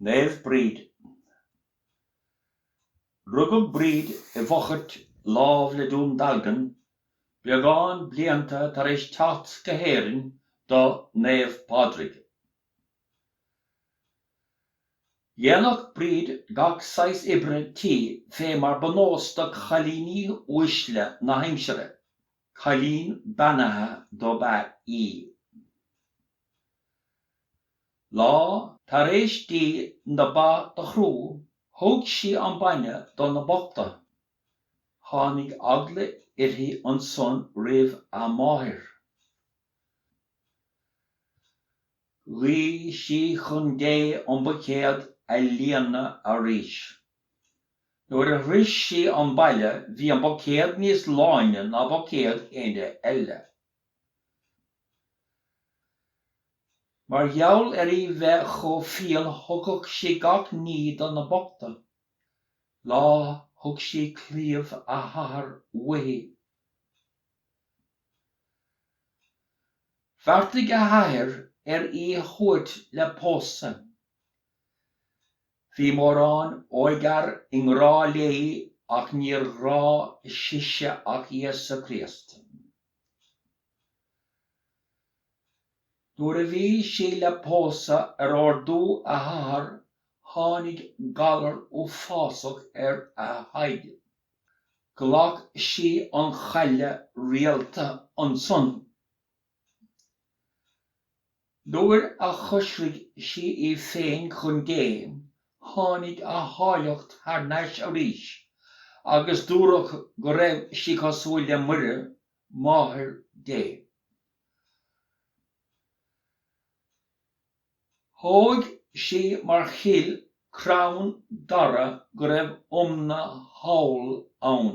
Naomh Bríd. Rugadh Bríd i bhFochairt lámh le Dún Dealgan, beagán blianta tar éis teacht go hÉirinn do Naomh Pádraig. Dhéanadh Bríd gach saghas oibre tí fé mar ba nós do chailíní uaisle na haimsire. Cailín beannaithe dob ea í. Lá tar éis di na ba do chrú thug sí an bainne do na bochta. Tháinig eagla uirthi ansan roimh a máthair. Ghuigh sí chun Dé an buicéad a líonadh arís. Nuair a shroich sí an baile bhí an buicéad níos láine ná buicéad éinne eile. Mar gheall ar í bheith chomh fial thugadh sí gach ní do na bochta. Lá thug sí claíomh a hathar uaithi. Bheartaigh a hathair ar í a thabhairt le pósadh. Bhí mórán óigfhear i ngrádh léi ach níor ghrádh sise ach Íosa Críost. Nuair a bhí sí le pósadh ar órdú a hathar tháinig galar uafásach ar a h-aghaidh. Ghlac sí an chaille rialta annsan. Nuair a choisrigh sí í féin chun Dé, tháinig a háilleacht thar n-ais arís, agus dúradh go raibh sí cosúil le Muire, Máthair Dé. Thóg sí mar chill crann dara go raibh iomna thall ann.